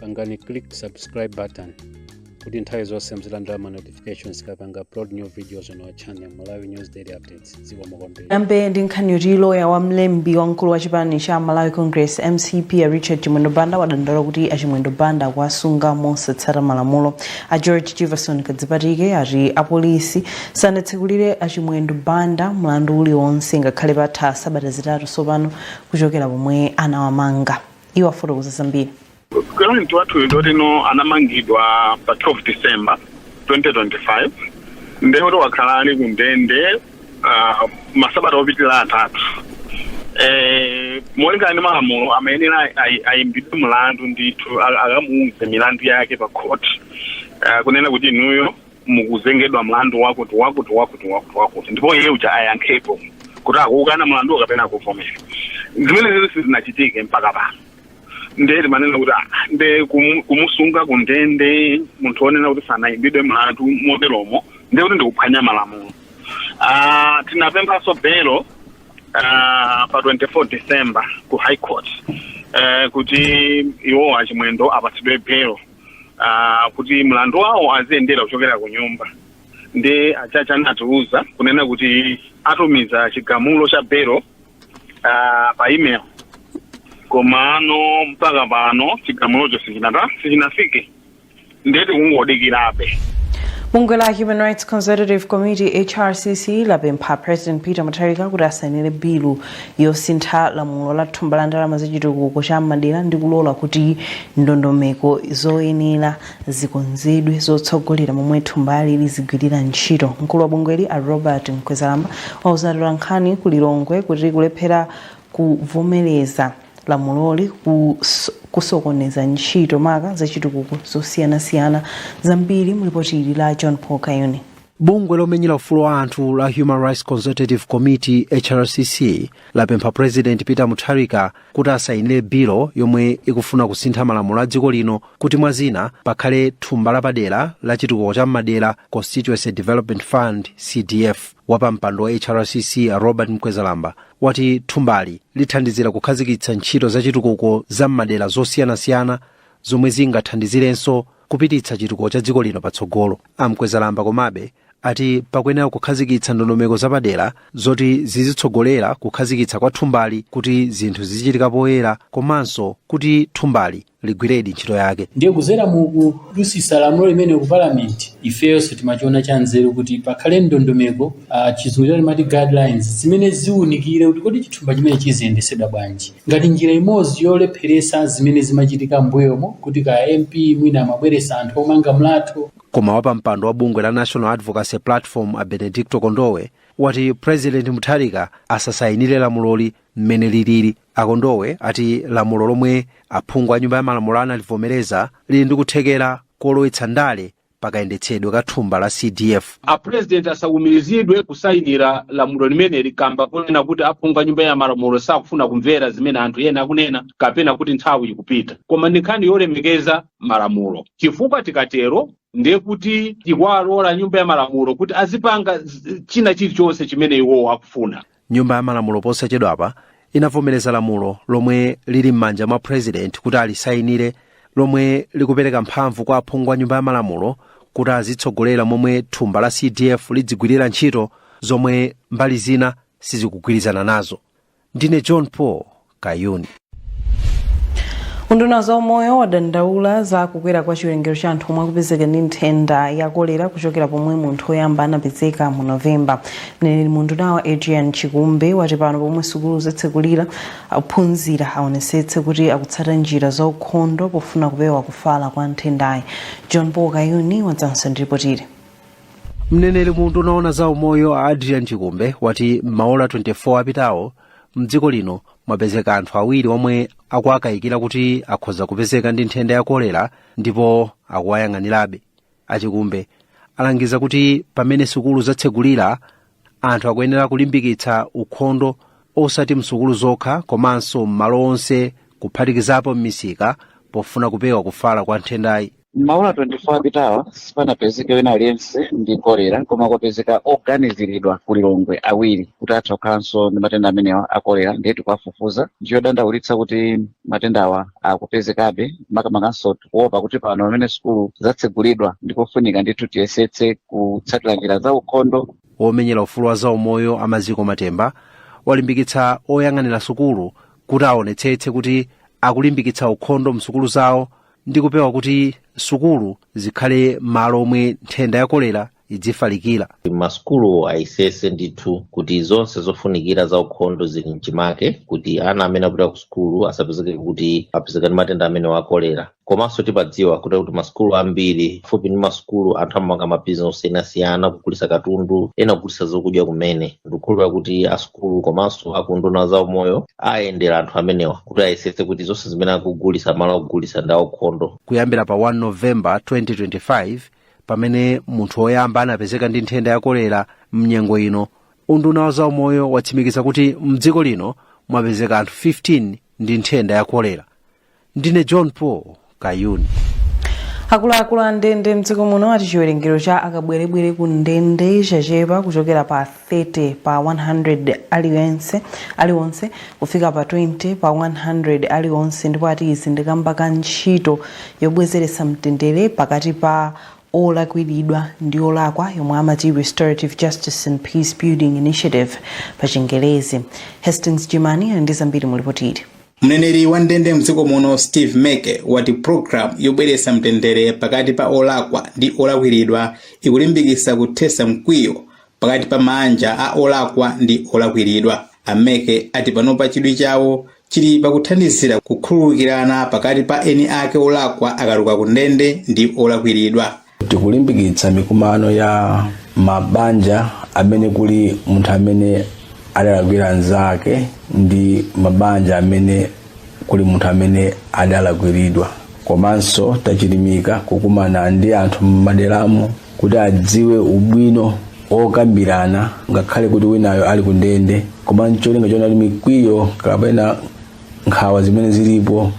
pangani click subscribe button kuti nthawi zonse muzilandira ma notifications tikapanga upload new videos on our channel malawi news daily updates dziko mokombera tiyambe ndi nkhani yoti loya wa mlembi wamkulu wa chipani cha malawi congress mcp a richard chimwendo banda wadandaula kuti achimwendo banda akuwasunga mosatsata malamulo a george jivason kadzipatike ati apolisi sanatsegulire achimwendo banda mlandu uliwonse ngakhale patha sabata zitatu tsopano kuchokera pomwe anawamanga iwo afotokoza zambiri client wathuyu ndoti no anamangidwa pa 12 December 2025 ndekuti wakhala ali ku ndende ah, masabata opitirira atatu eh, molingana ndi malamulo amayenera ayi- ayimbidwe mlandu ndithu a- akamuuze milandu yake pa khoti Ah, kunena kuti inuyo mukuzengedwa mlandu wakuti wakuti wakuti wakuti wakuti ndipo iye uja ayankhepo kuti akuukana mlandu kapena akuvomera zimenezi sizinachitike mpaka pano ndiye timanena kuti "Ah, nde kumu- kumusunga ku ndende munthu onena kuti sanayimbidwe mlandu moteromo ndiye kuti ndikuphwanya malamulo Ah, tinapemphanso belo ah, pa 24 december ku high court eh, kuti iwo achimwendo apatsidwe belo uh, kuti mlandu wawo aziyendera kuchokera ku nyumba nde a judge anatiuza kunena kuti atumiza chigamulo cha belo uh, pa email komano mpaka pano chigamulocho sichinata sichinafike ndiye tikungodikirabe bungwe la human rights consultative committee hrcc lapempha president peter mutharika kuti asainire bilu yosintha lamulo la thumba la ndalama za chitukuko cha mmadera ndi kulola kuti ndondomeko zoyenera zikonzedwe zotsogolera momwe thumbali lizigwirira ntchito mkulu wa bungweli a robert mkwezalamba wauza atolankhani ku lilongwe kuti kulephera kuvomereza lamuloli kus- kusokoneza ntchito maka za chitukuko zosiyanasiyana zambiri mulipoti ili la john paul kayuni bungwe lomenyera ufulu wa anthu la human rights consultative committee hrcc lapempha president peter mutharika kuti asayinire bilu yomwe ikufuna kusintha malamulo a dziko lino kuti mwa zina pakhale thumba lapadera la chitukuko cha mmadera constituency development fund cdf wapampando wa hrcc a robert mkwezalamba wati thumbali lithandizira kukhazikitsa ntchito za chitukuko za mmadera zosiyanasiyana zomwe zingathandizirenso kupititsa chitukuko cha dziko lino patsogolo. A Mkwezalamba komabe ati pakuyenera kukhazikitsa ndondomeko zapadera zoti zizitsogolera kukhazikitsa kwa thumbali kuti zinthu zizichitika poyera komanso kuti thumbali ligwiredi ntchito yake. ndiye kudzera mu kudutsitsa lamulo limene ku palamenti ifeyonso timachiona cha nzeru kuti pakhale ndondomeko uh, chizungu timati guidelines zimene ziwunikire kuti kodi chithumba chimenechi chiziyendetsedwa bwanji ngati njira imodzi yolepheretsa zimene zimachitika m'mbuyomo kuti kaya a MP mwina amabweretsa anthu omanga mlatho, Koma wapampando wa bungwe la National Advocacy Platform a Benedicto Kondowe wati President Mutharika asasayinire lamuloli mmene lilili. A Kondowe ati lamulo lomwe aphungu a nyumba ya malamulo analivomereza lili ndi kuthekera kolowetsa ndale pa kayendetsedwe ka thumba la CDF. a president asaumirizidwe kusayinira lamulo limeneli kamba kunena kuti aphungu a nyumba ya malamulo sakufuna kumvera zimene anthu ena akunena kapena kuti nthawi ikupita koma ndi nkhani yolemekeza malamulo chifukwa tikatero ndiye kuti tikuilola nyumba ya malamulo kuti azipanga z- china chilichonse chimene iwowo akufuna Nyumba ya Malamulo posachedwapa inavomereza lamulo lomwe lili m'manja mwa President kuti alisayinire lomwe likupereka mphamvu kwa aphungu a Nyumba ya Malamulo kuti azitsogolera momwe thumba la CDF lidzigwirira ntchito zomwe mbali zina sizikugwirizana nazo. Ndine John Paul, kayuni unduna wa za umoyo wadandaula za kukwera kwa chiwerengero cha anthu omwe akupezeka ndi nthenda ya kolera kuchokera pomwe munthu woyamba anapezeka mu novemba mneneri mu undunawo adrian chikumbe wati pano pomwe sukulu zatsekulira ophunzira aonetsetse kuti akutsata njira za ukhondo pofuna kupewa kufala kwa nthendayi john paul kayuni wadzanso ndi ripoti ili mneneri mu unduna wa za umoyo a adrian chikumbe wati m'maola 24 apitawo mdziko lino mwapezeka anthu awiri omwe akuwakayikira kuti akhoza kupezeka ndi nthenda ya kolera ndipo akuwayang'anirabe a chikumbe alangiza kuti pamene sukulu zatsegulira anthu akuyenera kulimbikitsa ukhondo osati msukulu zokha komanso m'malo onse kuphatikizapo m'misika pofuna kupewa kufala kwa nthendayi M'maola 24 apitawa sipanapezeke wina aliyense ndi kolera koma kwapezeka oganiziridwa ku Lilongwe awiri kuti atha kukhalanso ndi matenda amenewa a kolera ndiye tikuwafufuza ndichodandaulitsa kuti matendawa akupezekabe makamakanso tikuopa kuti pano pamene sukulu zatsegulidwa ndikofunika ndithu tiyesetse kutsatira njira za ukhondo omenyera ufulu wa zaumoyo a maziko matemba walimbikitsa oyang'anira sukulu kuti aonetsetse kuti akulimbikitsa ukhondo msukulu zawo ndi kupewa kuti sukulu zikhale malo omwe nthenda ya kolera idzifalikira masukulu ayesese ndithu kuti zonse zofunikira za ukhondo zili mchimake kuti ana amene apita ku sukulu asapezeke kuti apezeka ndi matenda amenewa a kolera komanso timadziwa kuti kuti masukulu ambiri fupi ndi masukulu anthu amapanga mabizinesi osiyanasiyana kugulitsa katundu ena kugulitsa zokudya kumene ndikukhulupirira kuti asukulu komanso akuunduna za umoyo ayendera anthu amenewa kuti ayesetse kuti zonse zimene akugulitsa mmalo akugulitsa ndi aukhondo kuyambira pa 1 novemba 2025 pamene munthu woyamba anapezeka ndi nthenda ya kolera mnyengo ino unduna wa zaumoyo watsimikiza kuti mdziko lino mwapezeka anthu 15 ndi nthenda ya kolera ndine john paul kayuni akuluakulu a ndende mdziko muno ati chiwerengero cha akabwerebwere ku ndende chachepa kuchokera pa 30 pa 100 alionse kufika pa 20 pa 100 alionse ndipo ati izi ndikamba ka ntchito yobweretsa mtendere pakati pa olakwiridwa ndi olakwa yomwe amati restorative justice and peace building initiative pa chingerezi hastings jimani ali ndi zambiri mulipoti ili Mneneri wa ndende mdziko muno Steve Meke wati program yobweretsa mtendere pakati pa olakwa ndi olakwiridwa ikulimbikitsa kuthetsa mkwiyo pakati pa maanja a olakwa ndi olakwiridwa. A Meke ati panopa chidwi chawo chili pakuthandizira kukhululukirana pakati pa eni ake olakwa akatuluka ku ndende ndi olakwiridwa. tikulimbikitsa mikumano ya mabanja amene kuli munthu amene adalakwira anzake ndi mabanja amene kuli munthu amene adalakwiridwa komanso tachilimika kukumana ndi anthu m'maderamu kuti adziwe ubwino wokambirana ngakhale kuti winayo ali ku ndende koma ncholinga choona kuti mikwiyo kapena nkhawa zimene zilipo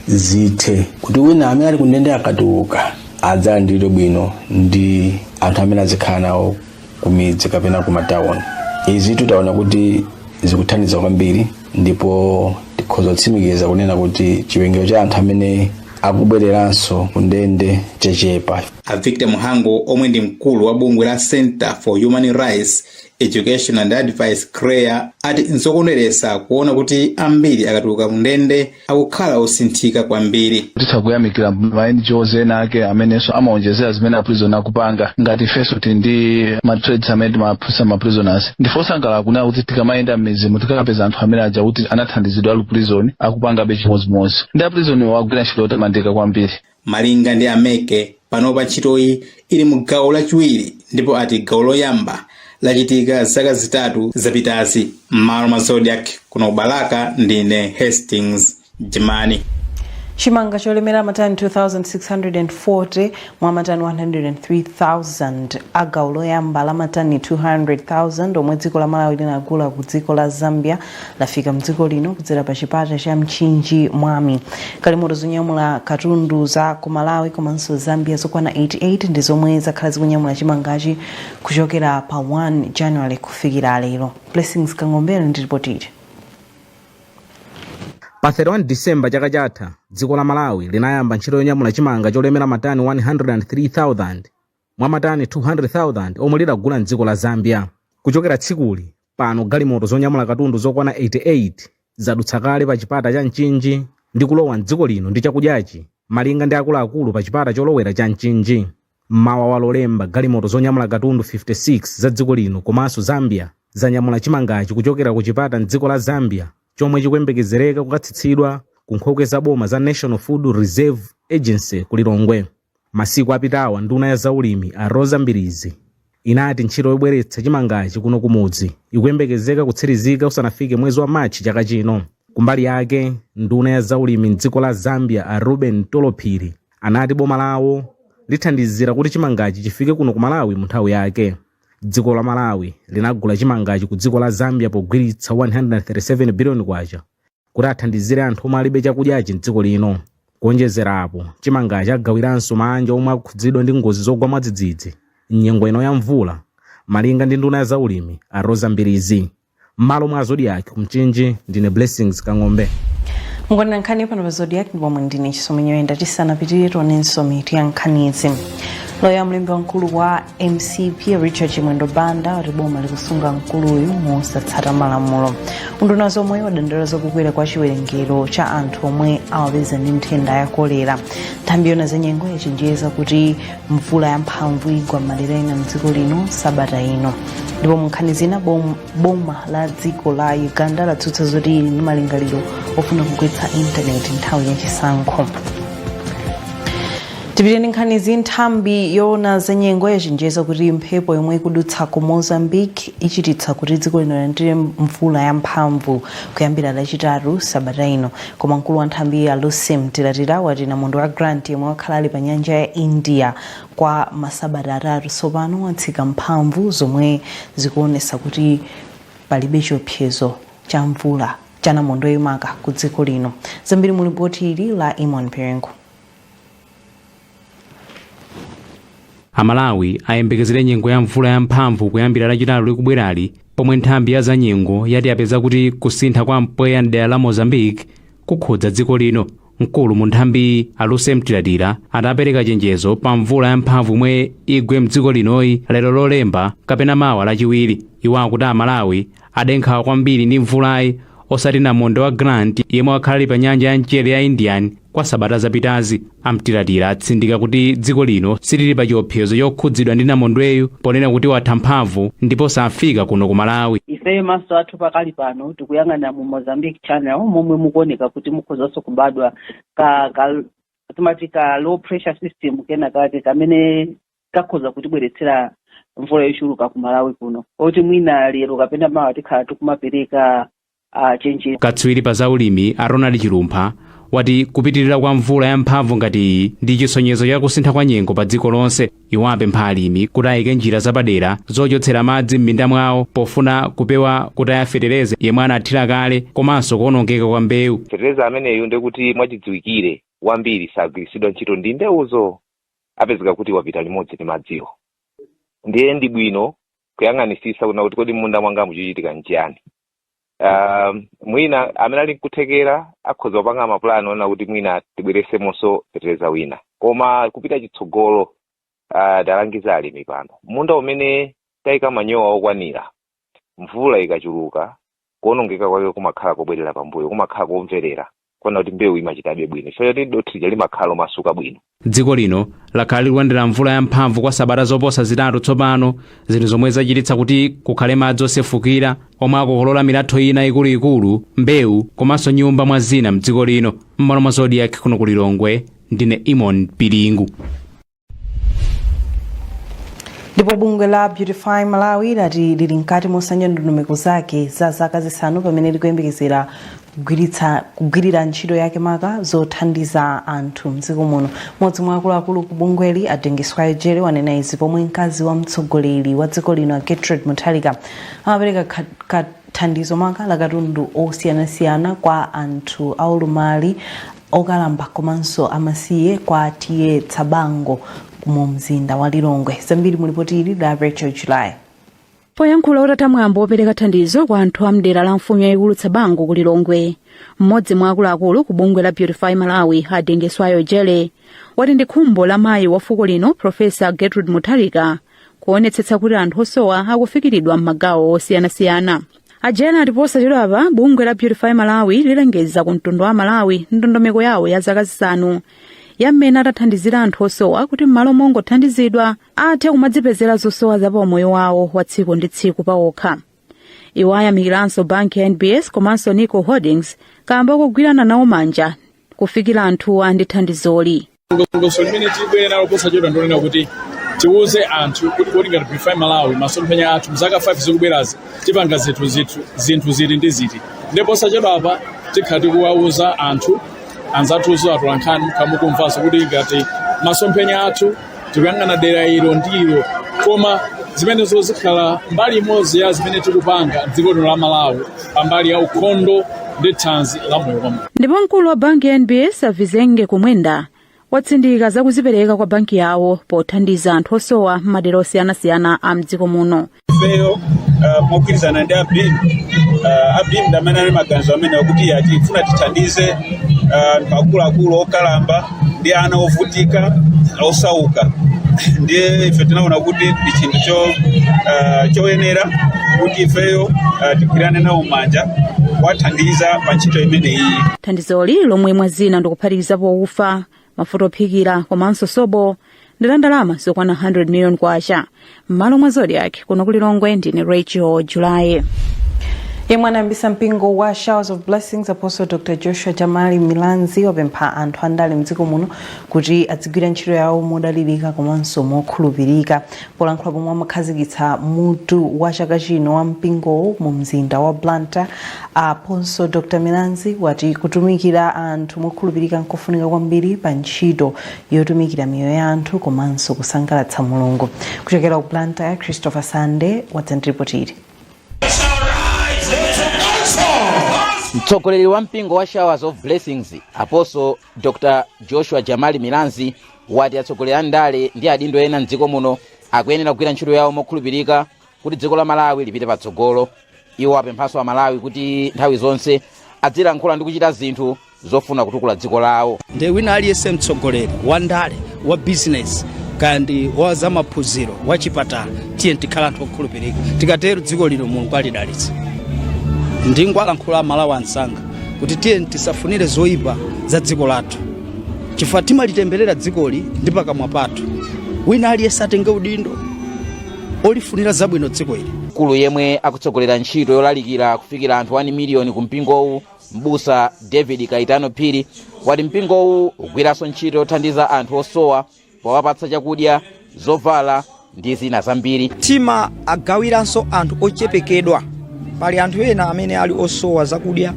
zithe kuti wina amene ali kundende akatuluka adzalandiridwe bwino ndi anthu amene azikhala nawo kumidzi kapena kumatawuni izitu taona kuti zikuthandiza kwambiri ndipo tikhoza kutsimikiza kunena kuti chiwerengero cha anthu amene akubwereranso kundende chachepa a victor mhango omwe ndi mkulu wa bungwe la center for human rights education and advice chreaa ati nzokondweretsa kuona kuti ambiri akatuluka kundende akukhala osinthika kwambiri. titha kuyamikira ma ngos ena ake amenenso amaonjezera zimene aprison akupanga ngati ifenso tili ndi ma trades amene timaphunzitsa ma prisoners ndife osangalala kunena kuti tikamayenda m'midzimu tikapeza anthu amene aja oti anathandizidwa ali ku prison akupangabe chimodzimodzi ndi aprisonwo agwira ntchito yotamandika kwambiri Malinga ndi a Meke, panopa ntchitoyi ili mu gawo lachiwiri ndipo ati gawo loyamba lachitika zaka zitatu zapitazi. M'malo mwa Zodiak, kuno ku Balaka ndine Hastings Jimani. Chimanga cholemera matani 2,640 mwa matani 103,000 a gawo loyamba la matani 200,000 omwe dziko la Malawi linagula ku dziko la Zambia lafika mdziko lino kudzera pa chipata cha mchinji mwami galimoto zonyamula katundu za ku malawi komanso zambia zokwana 88 ndi zomwe zakhala zikunyamula chimangachi kuchokera pa 1 january kufikira lero blessings kang'ombe ali ndi ripotili pa 31 disemba chaka chatha dziko la malawi linayamba ntchito yonyamula chimanga cholemera matani 103,000 mwa matani 200,000 omwe lidagula mdziko la zambia kuchokera tsikuli Pano galimoto zonyamula katundu zokwana 88 zadutsa kale pa chipata cha Mchinji ndi kulowa m'dziko lino ndi chakudyachi, malinga ndi akuluakulu pa chipata cholowera cha Mchinji. M'mawa wa Lolemba galimoto zonyamula katundu 56 za dziko lino komanso Zambia zanyamula chimangachi kuchokera ku Chipata m'dziko la Zambia chomwe chikuyembekezereka kukatsitsidwa ku nkhokwe za boma za National Food Reserve Agency ku Lilongwe. Masiku apitawa nduna ya zaulimi a Roza Mbilizi inati ntchito yobweretsa chimangachi kuno kumudzi ikuyembekezeka kutsirizika usanafike mwezi wa March chaka chino. Kumbali yake, nduna ya zaulimi m'dziko la Zambia a Reuben Mtolo Phiri anati boma lawo lithandizira kuti chimangachi chifike kuno ku Malawi mu nthawi yake. Dziko la Malawi linagula chimangachi ku dziko la Zambia pogwiritsa K137 biliyoni. kuti athandizire anthu omwe alibe chakudyachi mdziko lino. Kuonjezera apo, chimangachi agawiranso maanja omwe akhudzidwa ndi ngozi zogwa mwadzidzidzi m'nyengo ino ya mvula, malinga ndi nduna ya zaulimi a Roza Mbilizi. M'malo mwa Zodiak ku Mchinji, ndine Blessings Kang'ombe. mukuonera nkhani pano pa zodiak ndipo muli ndine chisomo nyoyenda tisanapitirire tionenso mitu ya nkhanizi loya mlembi wamkulu wa mcp richard chimwendo banda wati boma likusunga mkuluyu mosatsata malamulo unduna wa zaumoyo wadandaula zakukwera kwa chiwerengero cha anthu omwe awapeza ndi nthenda ya kolera nthambi yoona zanyengo yachenjeza kuti mvula yamphamvu igwa m'madera ena mdziko lino sabata ino ndipo munkhani zina bom- boma la dziko la uganda latsutsa zoti lili ndi malingaliro ofuna kugwetsa intaneti nthawi ya chisankho tipite ndi nkhanizi nthambi yoona za nyengo yachenjeza kuti mphepo yomwe ikudutsa ku mozambique ichititsa kuti dziko lino lilandire mvula yamphamvu kuyambira lachitatu sabata ino koma mkulu wa nthambiyi a lucy mtilatila wati namondwe wa grant yemwe wakhala ali pa nyanja ya india kwa masabata atatu tsopano watsika mphamvu zomwe zikuonesa kuti palibe chiopsezo cha mvula cha namondweyo maka ku dziko lino zambiri mu lipoti ili la eamon piringu amalawi ayembekezere nyengo ya mvula yamphamvu kuyambira lachitatu likubwerali pomwe nthambi ya zanyengo yati yapeza kuti kusintha kwa mpweya mdera la mozambique kukhudza dziko lino mkulu mu nthambiyi a lucy mtilatila ati apereka chenjezo pa mvula yamphamvu yomwe igwe mdziko linoyi lero lolemba kapena mawa lachiwiri iwo akuti amalawi Ade nkhawa kwambiri ndi mvulayi osati namondwe wa Grant yemwe wakhala ali pa nyanja ya mchere ya Indian kwa sabata zapitazi. A Mtilatila atsindika kuti dziko lino silili pa chiopsezo chokhudzidwa ndi namondweyu ponena kuti watha mphamvu ndipo safika kuno ku Malawi. ifeyo maso athu pakali pano tikuyang'ana mu mozambique channel momwe mukuoneka kuti mukhozanso kubadwa ka, ka timati ka low pressure system kena kake kamene kakhoza kutibweretsera mvula yochuluka ku malawi kuno oti mwina lero kapena mawa tikhala tikumapereka uh, chenjezo katswiri pa zaulimi a ronald chilumpha wati kupitirira kwa mvula yamphamvu ngati iyi ndi chisonyezo cha kusintha kwa nyengo pa dziko lonse iwo apempha alimi kuti ayike njira zapadera zochotsera madzi m'minda mwawo pofuna kupewa kutaya fetereza yemwe anathira kale komanso kuonongeka kwa mbewu fetereza ameneyu ndekuti mwachidziwikire wambiri sagwiritsidwa ntchito ndi mbewuzo apezeka kuti wapita limodzi ndi madziwo ndiye ndi bwino kuyang'anisisa kuona kuti kodi m'munda mwanga mukuchitika nchiyani um, mwina amene ali nkuthekera akhoza kupanga mapulani oona kuti mwina tibweresemonso fetereza wina koma kupita chitsogolo uh, talangiza alimi pano munda umene tayika manyowa okwanira Mvula ikachuluka, kuonongeka kwake kumakhala kobwerera pambuyo, kumakhala kobwerera kuona kuti mbewu imachitabe bwino chifukwa choti dothi lija limakhala lomasuka bwino. Dziko lino lakhala likulandira mvula yamphamvu kwa sabata zoposa zitatu tsopano, zinthu zomwe zachititsa kuti kukhale madzi osefukira omwe akokolola milatho ina ikuluikulu, mbewu komanso nyumba mwa zina m'dziko lino. M'malo mwa Zodiak kuno ku Lilongwe, ndine Eamon Piringu. ndipo bungwe la beautify malawi lati lili mkati mosanja ndondomeko zake za zaka zisanu pamene likuyembekezera kugwirira ntchito yake maka zothandiza anthu mdziko muno mmodzi mwa akuluakulu ku bungweli a dingiswayo jere wanena izi pomwe mkazi wa mtsogoleri wa dziko lino a gertrude mutharika amapereka ka- thandizo maka la katundu osiyanasiyana kwa anthu aulumali okalamba komanso amasiye kwa TA Tsabango mu mzinda wa Lilongwe. Zambiri mu lipoti ili la Rachel July. poyankhula utatha mwambo wopereka thandizo kwa anthu a mdera la mfumu yayikulu tsabango ku lilongwe mmodzi mwa akuluakulu ku bungwe la beautify malawi a dingiswayo jere wati ndi khumbo la mayi wa fuko lino profesa gertrude mutharika kuonetsetsa kuti anthu osowa akufikiridwa m'magawo osiyanasiyana a jere ati posachedwapa bungwe la beautify malawi lilengeza ku mtundu wa malawi ndondomeko yawo ya zaka zisanu ya mmene atathandizira anthu osowa kuti m'malo mongothandizidwa athe kumadzipezera zosowa za paumoyo wawo wa tsiku ndi tsiku pawokha iwo ayamikiranso banki ya nbs komanso nico holdings kamba kogwirana nawo manja kufikira anthuwa ndi thandizoli ndondomeko limene tibwere nalo posachedwa ndonena kuti tiwuze anthu kuti kodi ngati beautify malawi masomphenya athu mzaka 5 zikubwerazi tipanga zinthu ziti ndi ziti ndipo posachedwa apa tikhala tikuwawuza anthu anzathunso atolankhani akamamvanso kuti ngati masomphenya athu tikuyang'ana dera ilo ndi ilo koma zimenezo zikhala mbali imodzi ya zimene tikupanga dziko lino la malawi pambali ya ukhondo ndi thanzi la moyo wa munthu ndipo mkulu wa banki ya nbs a vizenge kumwenda watsindika za kuzipereka kwa banki yawo pothandiza anthu osowa m'madera osiyanasiyana a mdziko muno ifeyo uh, mogwirizana ndi a beam uh, a beam ndamene ali maganizo amenewo kuti a tifuna tithandize uh, anthu akuluakulu okalamba ndi ana ovutika osauka ndiye ife tinaona kuti ndi chinthu cho ah, choyenera kuti ifeyo ah, tigwirane nawo manja kuwathandiza pa ntchito imeneyi thandizoli lomwe mwa zina ndikuphatikizapo ufa mafuta ophikira komanso sopo ndi la ndalama zokwana 100 million kwacha m'malo mwa zodiak kuno ku lilongwe ndine rachel july yemwe anayambisa mpingo wa showers of blessings apostle dr joshua jamali milanzi wapempha anthu andale mdziko muno kuti adzigwira ntchito yawo modalirika komanso mokhulupirika polankhula pomwe amakhazikitsa mutu wa chaka chino wa mpingowo mu mzinda wa blantyre apostle dr milanzi wati kutumikira anthu mokhulupirika nkofunika kwambiri pa ntchito yotumikira miyoyo ya anthu komanso kusangalatsa mulungu kuchokera ku blantyre christopher sande wadza ndi ripotili mtsogoleri wa mpingo wa showers of blessings apostle dr joshua jamali milanzi wati atsogoleri a ndale ndi adindo ena mdziko muno akuyenera kugwira ntchito yawo mokhulupirika kuti dziko la malawi lipite patsogolo iwo apemphanso amalawi kuti nthawi zonse adzilankhula ndi kuchita zinthu zofuna kutukula dziko lawo ndiye wina aliyense mtsogoleri wa ndale wa bizinesi kaya ndi wa zamaphunziro wa chipatala tiyeni tikhale anthu okhulupirika tikatero dziko lino mulungu alidalitsa ndingowalankhula amalawi anzanga kuti tiyeni tisafunire zoyipa za dziko lathu chifukwa timalitemberera dzikoli ndi pakamwa pathu wina aliyense atenge udindo olifunira zabwino dziko ili mkulu yemwe akutsogolera ntchito yolalikira kufikira anthu 1 miliyoni ku mpingowu mbusa david kaitano phiri wati mpingowu ugwiranso ntchito yothandiza anthu osowa powapatsa chakudya zovala ndi zina zambiri timawagawiranso anthu ochepekedwa pali anthu ena amene ali osowa zakudya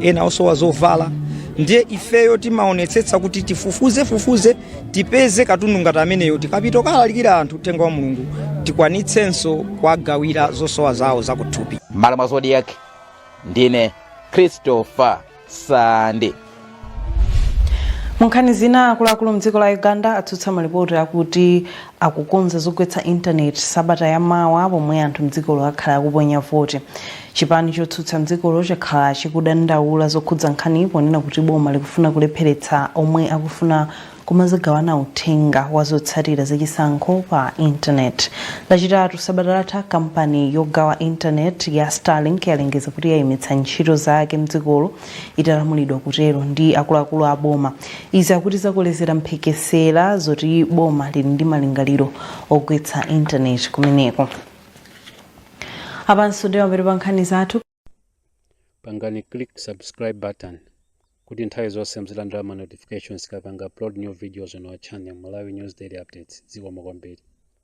ena osowa zovala ndiye ifeyo timaonetsetsa kuti tifufuzefufuze tipeze katundu ngati ameneyo tikapita kukalalikira anthu uthenga wa mulungu tikwanitsenso kuwagawira zosowa zawo zakuthupi mmalo mwa zodiac ndine christopher sande munkhani zina akuluakulu mdziko la uganda atsutsa malipoti akuti akukonza zogwetsa intaneti sabata ya mawa pomwe anthu mdzikolo akhala akuponya voti chipani chotsutsa mdzikolo chakhala chikudandaula zokhudza nkhaniyi ponena kuti boma likufuna kulepheretsa omwe akufuna kumazagawana uthenga wa zotsatira zachisankho pa intaneti lachitatu sabata latha kampani yogawa intaneti ya starlink yalengeza kuti yayimitsa ntchito zake mdzikolo italamulidwa kutero ndi akuluakulu a boma. Izi akuti zakolezera mphekesera zoti boma lili ndi malingaliro ogwetsa intaneti kumeneko. Apanso ndi mapeto pa nkhani zathu. Pangani click subscribe button kuti nthawi zonse muzilandira ma notifications tikapanga upload new videos on our channel Malawi News Daily Updates. Zikomo kwambiri.